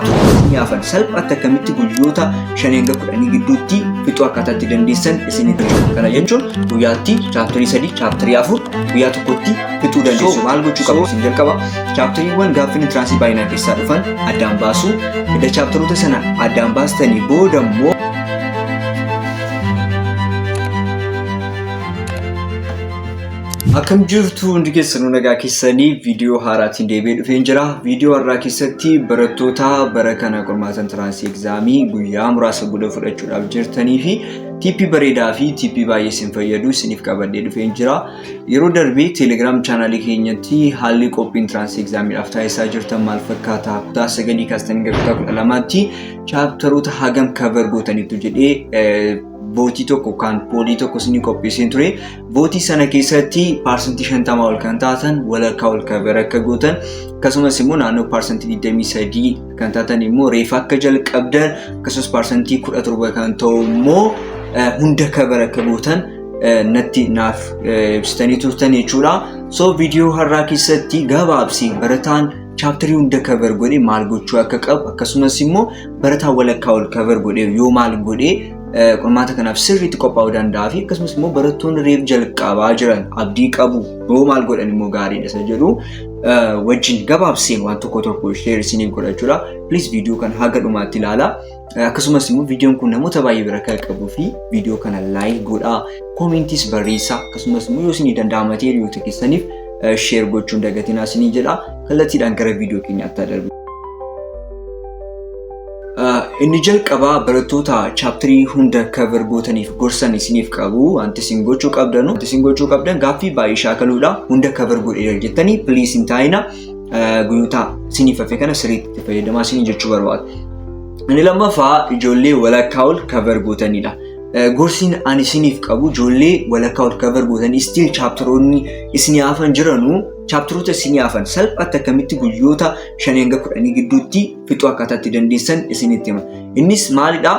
Afaaniin yaafan salphaatti akkamitti guyyoota 5-10 gidduutti fixuu akkaataa itti dandeessan isinitti hima. Kana jechuun guyyaatti chaaptarii 3, chaaptarii 4 guyyaa tokkotti fixuu dandeessu. Maal gochuu qabu isin jalqaba? Chaaptariiwwan gaaffiin intiraansii baay'inaan keessaa dhufan addaan baasuu. Edda chaaptaroota sana addaan baastanii booda immoo Akkam jirtu hundi keessanuu nagaa keessanii viidiyoo haaraatiin deebi'ee dhufeen jira. Viidiyoo har'aa keessatti barattoota bara kana qormaata intiraansii egzaamii guyyaa muraasa booda fudhachuudhaaf jirtanii fi tiippii bareedaa fi tiippii baay'ee isin fayyadu isiniif qabadhee dhufeen jira. Yeroo darbee teelegiraam chaanaalii keenyatti haalli qophii intiraansii egzaamiidhaaf taasisaa jirtan maal fakkaata kutaa sagalii kaastanii gara kutaa kudha lamaatti chaaptaroota hagam kavar gootaniitu jedhee bootii tokko kan poolii tokko isinii qopheesseen ture bootii sana keessatti paarsantii shantamaa ol kan taatan walakkaa ol kabar akka gootan akkasumas immoo naannoo paarsantii digdamii sadii kan taatan immoo reefa akka jalqabdan akkasumas paarsantii kudha torba kan ta'u immoo hunda kabar akka gootan natti naaf ibsitanii turtan jechuudha. So viidiyoo har'aa keessatti gabaabsi barataan chaaptarii hunda cover godhee maal gochuu akka qabu akkasumas immoo barataa walakkaa ol cover godhee yoo maal godhee qormaata kanaaf sirriitti qophaa'uu danda'a fi akkasumas immoo barattoonni reef jalqabaa jiran abdii qabu yoo maal godhan immoo gaariidha isa jedhu wajjin gabaabseen waan tokko tokko sheer isiniif godhachuudha. Please viidiyoo kan haga dhumaatti ilaalaa. Akkasumas immoo viidiyoon kun namoota baay'ee bira akka qaqqabuu fi viidiyoo kana laayik godhaa, koomentis barreessaa akkasumas immoo yoo isinii danda'ama ta'e hiriyoota keessaniif sheer gochuun dagatinaa isinii jedha. Kallattiidhaan gara viidiyoo keenyaatti haa darbu. Inni jalqabaa barattoota chaaptarii hunda kaver gootaniif gorsan isiniif qabu. Wanti isin gochuu qabdanu, wanti isin gochuu qabdan gaaffii baay'ee shaakaluudha. Hunda kaver godheera jettanii please hin taa'ina. guyyootaa siniif hafe kana sirriitti fayyadamaa sinii jechuu barbaada. Inni lammaffaa ijoollee walakkaa ol kabar gootanidha. Gorsiin ani isiniif qabu ijoollee walakkaa ol kabar gootan istiil chaaptaroonni isinii hafan jiranu chaaptaroota isinii hafan salphaatti akkamitti guyyoota shanii hanga kudhanii gidduutti fixuu akkaataatti dandeessan isinitti hima. Innis maalidhaa?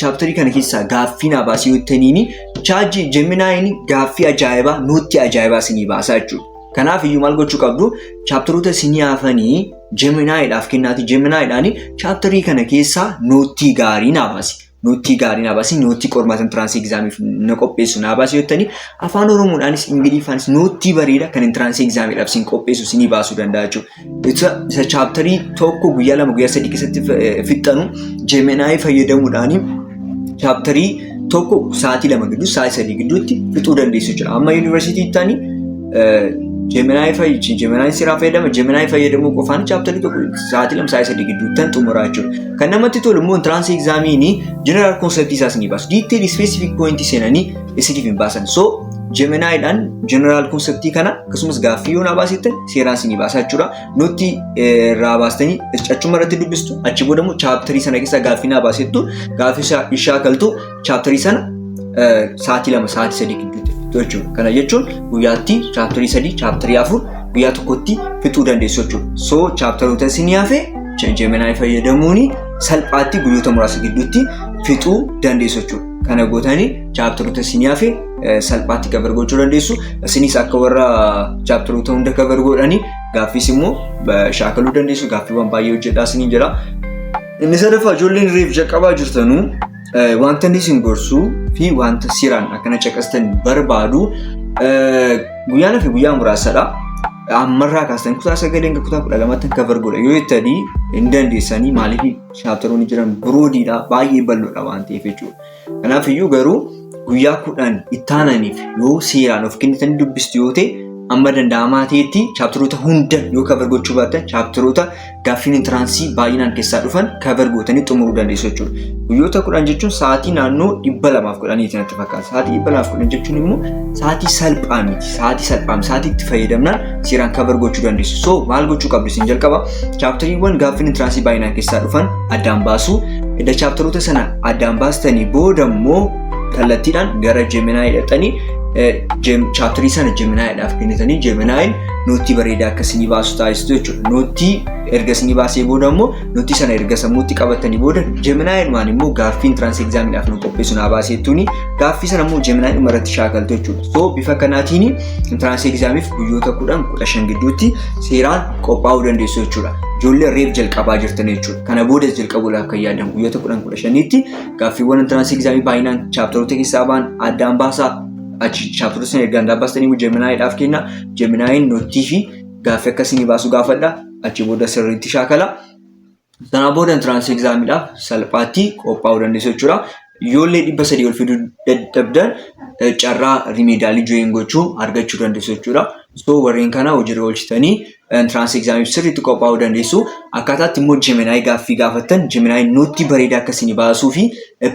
chaaptarii kana keessaa gaaffii naa baasii yoo ta'iniin chaajii jeminaayin gaaffii ajaa'ibaa nuutti ajaa'ibaa isinii baasaa jechuudha. Kanaaf iyyuu maal gochuu qabdu chaaptaroota isinii hafanii jeminaayiidhaaf kennaati jeminaayiidhaan chaaptarii kana keessaa nuutti gaarii naa baasi. Nuutti gaarii naa baasi nuutti qormaatan tiraansii egzaamiif na qopheessu naa baasi yoo ta'iniin afaan oromoodhaanis ingiliffaanis nuutti bareeda kan tiraansii egzaamiidhaaf isin qopheessu isinii baasuu danda'a jechuudha. Beeksisa isa chaaptarii tokko guyyaa lama guyyaa sadii keessatti fixxanu jeeminaayii fayyadamuudhaan chaaptarii tokko sa'aatii lama gidduu sa'aatii sadii gidduutti fixuu dandeessu jira. Amma yuunivarsiitii taani jeeminaayii fayyadamu jeeminaayii seeraa fayyadama jeeminaayii fayyadamuu qofaan chaaptarii tokko sa'aatii lama sa'aatii sadii gidduutti tan xumuraa jechuudha. Kan namatti tolu immoo intiraansii egzaamiinii jeneraal koonseptii isaas ni baasu. Diiteelii ispeesifik pooyintii seenanii isiniif hin baasan. So jeeminaayiidhaan jeneraal koonseptii kana akkasumas gaaffii yoo na baasittan seeraa isinii baasaa jechuudha. Nutti irraa baastanii achuma irratti dubbistu achi booda immoo chaaptarii sana keessa gaaffii naa baasettu gaaffii ishaa galtu chaaptarii sana sa'aatii lama sa'aatii sadii gidduutti fixxu jechuudha. Kana jechuun guyyaatti chaaptarii sadii chaaptarii afur guyyaa tokkotti fixuu dandeessu jechuudha. So chaaptaroota isinii hafe Gemini fayyadamuun salphaatti guyyoota muraasa gidduutti fixuu dandeessu jechuudha. Kana gootanii chaaptaroota isinii hafe salphaatti kabar gochuu dandeessu. Isinis akka warra chaaptaroota hunda kabar godhanii gaaffiis immoo shaakaluu dandeessu. Gaaffiiwwan baay'ee hojjedhaa isiniin jira. Inni sadaffaa ijoolleen reef jalqabaa jirtanuu wanta inni isin gorsuu fi wanta siraan akkana caqastan barbaadu guyyaan fi guyyaa muraasadha. Ammarraa kaastan kutaa sagalee hanga kutaa kudha lamatti kabar godha yoo jettanii hin dandeessanii maaliif chaaptaroonni jiran biroodiidha baay'ee bal'oodha waan ta'eef jechuudha. Kanaaf iyyuu garuu guyyaa kudhan itti aananiif yoo seeraan of kennitanii dubbistu yoo ta'e amma danda'amaa ta'etti chaapteroota hunda yoo kabar gochuu baattan chaapteroota gaaffiin intiraansii baay'inaan keessaa dhufan kabar gootanii xumuruu dandeessu jechuudha. Guyyoota kudhan jechuun sa'aatii naannoo dhibba lamaaf kudhaniiti natti fakkaata. Sa'aatii dhibba lamaaf kudhan jechuun immoo sa'aatii salphaa miti. Sa'aatii salphaa miti. Sa'aatii itti fayyadamnaan seeraan kabar gochuu dandeessu. So maal gochuu qabdu isin jalqaba? Chaaptariiwwan gaaffiin intiransii baay'inaan keessaa dhufan addaan baasuu. Edda chaaptaroota sana addaan baastanii booda immoo kallattiidhaan gara Jeeminaayii dhaqxanii chaaptarii sana Jeeminaayiidhaaf kennitanii Jeeminaayiin noottii bareedaa akka isinii baasu taasistu jechuudha. Noottii erga isinii baasee booda immoo noottii sana erga sammuutti qabatanii booda Jeeminaayiidhumaan immoo gaaffii intiransii egzaamiidhaaf nu qopheessu naa baasee jechuun gaaffii sana immoo Jeeminaayiidhuma irratti shaakaltu jechuudha. So bifa kanaatiin intiransii egzaamiif guyyoota kudhan kudha shan gidduutti seeraan qophaa'uu dandeessu jechuudha. Ijoollee reef jalqabaa jirtan jechuudha. Kana booda jalqabuudhaaf kan yaadan guyyoota kudhan kudha shaniitti gaaffiiwwan intiraansii egzaamii baay'inaan chaaptaroota keessaa ba'an addaan baasaa achi chaaptaroota sana erga addaan baastanii immoo jeminaayiidhaaf kenna. Jeminaayiin noottii fi gaaffii akkasii ni baasu gaafadha. Achi booda sirriitti shaakala. Sanaa booda entrance examidhaaf salphaatti qophaa'uu dandeessu jechuudha. Yoollee dhibba sadii ol fiduu dadhabdan eh, carraa rimeedaalii join gochuu argachuu dandeessu jechuudha. So warreen kana hojiirra oolchitanii entrance examiif sirriitti qophaa'uu dandeessu. Akkaataatti immoo Gemini gaaffii gaafattan Gemini nuutti bareedaa akka isin baasuu fi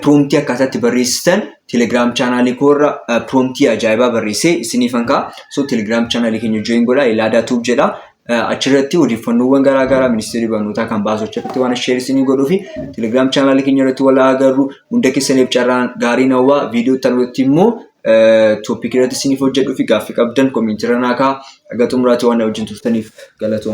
promptii akkaataatti barreessitan Telegram chaanaalii koorra promptii ajaa'ibaa barreessee isiniifan ka'a. So Telegram chaanaalii keenya join godhaa Elaadaa Tuub jedha. Achirratti odeeffannoowwan garaa garaa ministeerri barnootaa kan baasu achirratti waan sheer isinii godhuu fi telegiraam chaanaalii keenya irratti wal agarru hunda keessaniif carraan gaariin hawwaa viidiyoo itti aanutti immoo tooppikii irratti isiniif hojjedhuu fi gaaffii qabdan komiintii irra naa kaa'aa. Haga xumuraatti waan na wajjin turtaniif galatooma.